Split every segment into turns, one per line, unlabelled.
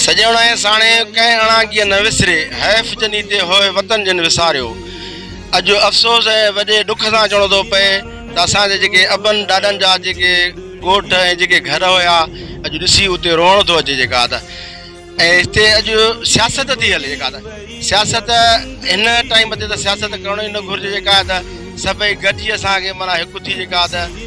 سڄڻ ۽ ساڻي ڪنهن اڻاگيء نه وسري، حيف جني تي هوء وطن جن وساريو. اڄ افسوس ۽ وڏي ڏک سان چوڻو ٿو پئي ته اسان جي جيڪي ابن ڏاڏن جا جيڪي ڳوٺ ۽ جيڪي گهر هيا، اڄ ڏسي اتي روئڻ ٿو اچي جيڪا ته ۽ هتي اڄ سياست ٿي هلي جيڪا ته سياست هن ٽائيم تي ته سياست ڪرڻ ئي نه گهرجي جيڪا ته سڀئي گڏجي اسان کي معنيٰ هڪ ٿي جيڪا ته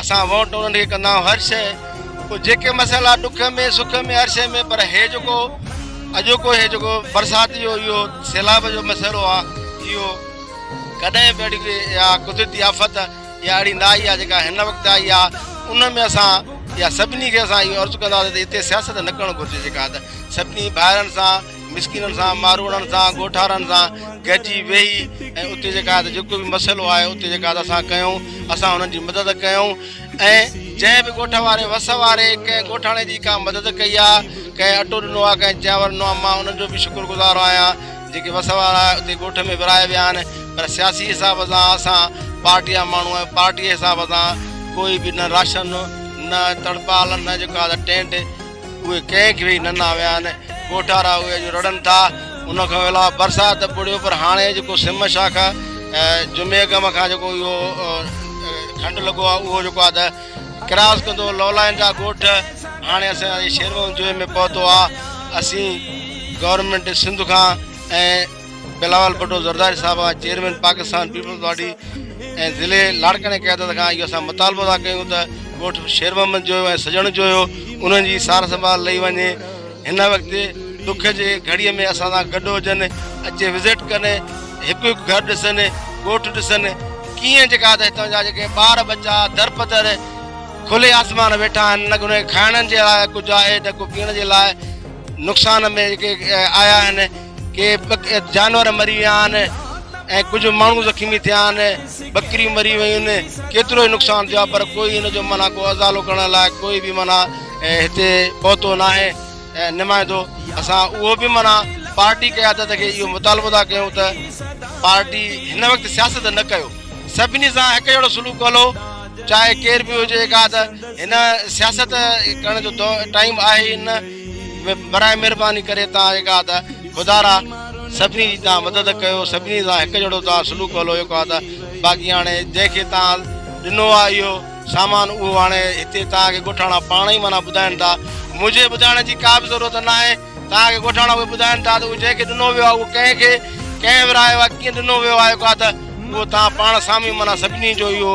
اسان ووٽ انهن کي ڪندا آهيون هر شيء پوء جيڪي مسئلا ڏک ۾ سک ۾ هر شيء ۾ پر هي جيڪو اڄوڪو هي جيڪو برسات جو اهو سيلاب جو مسئلو آهي اهو ڪڏهن به اهڙي اها قدرتي آفت يا اهڙي نه آئي آهي جيڪا هن وقت آئي آهي ان ۾ اسان يا سڀني کي اسان اهو عرض ڪنداسين ته هتي سياست نه ڪرڻ گهرجي جيڪا سڀني ڀائرن سان مسڪينن سان، ماروئڙن سان، ڳوٺارن سان گڏجي ويهي ۽ اتي جيڪا جيڪو به مسئلو آيو اتي جيڪا اسان ڪيون اسان انهن جي مدد ڪيون ۽ جنهن به ڳوٺ واري وس واري ڪنهن ڳوٺاڻي جي ڪا مدد ڪئي آ ڪنهن اٽو ڏنو آ ڪنهن چانور ڏنو آ مان انهن جو به شڪر گذار آهيان جيڪي وس وارا اتي ڳوٺ ۾ ورهائي ويا آهن پر سياسي حساب سان اسان پارٽي جا ماڻهو ۽ پارٽي جي حساب سان ڪوئي به نه راشن نه تڙپال نه جيڪا ٽينٽ اهي ڪنهن کي نه ناهن ويا آهن، ڳوٺارا اهي اڄ رڙن ٿا، ان کان علاوه برسات ته ٻڙيو پر هاڻي جيڪو سم شاخ آ جمعي اڳ م کان جيڪو اهو کنڊ لڳو آ اهو جيڪو آ ته ڪراس ڪندو لولائن جا ڳوٺ هاڻي اسان جي شيرومحمد جويي ۾ پهتو آ اسين گورنمينٽ سنڌ کان ۽ بلاول ڀٽو زرداري صاحب کان چيئرمين پاڪستان پيپلز پارٽي ۽ ضلعي لاڙڪاڻي قيادت کان اهو اسان مطالبو ٿا ڪيون ته ڳوٺ شير محمد جويو ۽ سڄڻ جويو انهن جي سار سنڀال لئي وڃي هن وقت ڏک جي گهڙي ۾ اسان سان گڏ هجن اچي وزٽ ڪن هڪ هڪ گهر ڏسن ڳوٺ ڏسن ڪيئن جيڪا ته هتان جا جيڪي ٻار ٻچا در پدر کلي آسمان ويٺا آهن نه ڪنهن کائڻ جي لاء ڪجهه آهي نه ڪو پيئڻ جي لاء نقصان ۾ جيڪي آيا آهن ڪي جانور مري ويا آهن ۽ ڪجهه ماڻهو زخمي ٿيا آهن ٻڪريون مري ويون آهن ڪيترو ئي نقصان ٿيو آهي پر ڪوئي ان جو معنيٰ ڪو ازالو ڪرڻ لاء ڪوئي به معنيٰ هتي پهتو نه آهي نمائندو اسان اهو به معنيٰ پارٽي قيادت کي اهو مطالبو ٿا ڪيون ته پارٽي هن وقت سياست نه ڪيو سڀني سان هڪ جهڙو سلوڪ هلو چاهي ڪير به هجي ڪا ته هن سياست ڪرڻ جو ٽائيم آهي نه براهه مھرباني ڪري توهان جيڪا آهي ته خدا را سڀني جي توهان مدد ڪيو سڀني سان هڪ جهڙو توهان سلوڪ هلو جيڪو آهي ته باقي هاڻي جنهن کي توهان ڏنو آهي اهو سامان اهو هاڻي هتي توهان کي ڳوٺاڻا پاڻ ئي معنيٰ ٻڌائين ٿا منهنجي ٻڌائڻ جي ڪا به ضرورت نه آهي توهان کي ڳوٺاڻا اهي ٻڌائين ٿا ته اهو جنهن کي ڏنو ويو آهي اهو ڪنهن کي ڪنهن ورهايو آهي ڪيئن ڏنو ويو آهي جيڪو آهي ته اهو توهان پاڻ سامهين معنيٰ سڀني جو اهو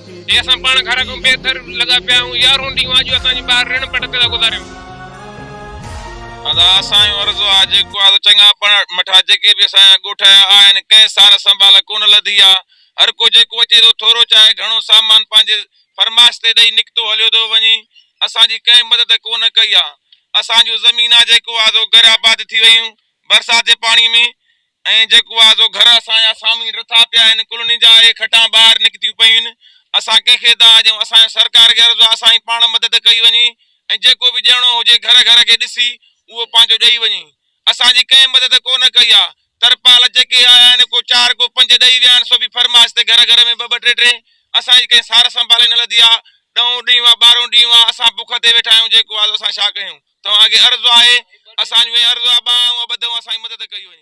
جي اسان پاڻ گهر کان بي ٿر لڳا پيا آهيون، يارهون ڏينهون آجو اسان جي ٻار رڻ پٽ تي ٿا گذاريون.
ادا اسان جو عرض آ جيڪو آ سو چڱا پڙها مٺا جيڪي به اسان جا ڳوٺ آيا آهن ڪنهن سار سنڀال ڪونه لڌي آ هر ڪو جيڪو اچي ٿو ٿورو چاهي گهڻو سامان پنهنجي فرمائش تي ڏئي نڪتو هليو ٿو وڃي اسان جي ڪنهن مدد ڪونه ڪئي آ اسان جون زمينا جيڪو آ سو غير آباد ٿي ويون برسات جي پاڻي ۾ ۽ جيڪو آ سو گهر اسان جا سامهين رٿا پيا آهن، ڪلهن جا اهي کٽان ٻاهر نڪتيون پيون. اسان ڪنهن کي ٿا ڏيون، اسان جي سرڪار کي عرض آ سائين پاڻ مدد ڪئي وڃي ۽ جيڪو به ڏيڻو هجي گهر گهر کي ڏسي اهو پنهنجو ڏئي وڃي. اسان جي ڪنهن مدد ڪو نه ڪئي آ. ترپال جيڪي آيا آهن ڪو چار ڪو پنج ڏئي ويا آهن سو به فرمائش تي گهر گهر ۾ ٻه ٻه ٽي ٽي. اسان جي ڪنهن سار سنڀال ئي نه لڌي آ. ڏهون ڏينهن آ ٻارهون ڏينهن آ اسان بک تي ويٺا آهيون جيڪو آ سو اسان ڇا ڪيون. توهان کي عرض آهي، اسان جون اهي عرض ابا ۽ ابا ابدو اسان جي مدد ڪئي هئي.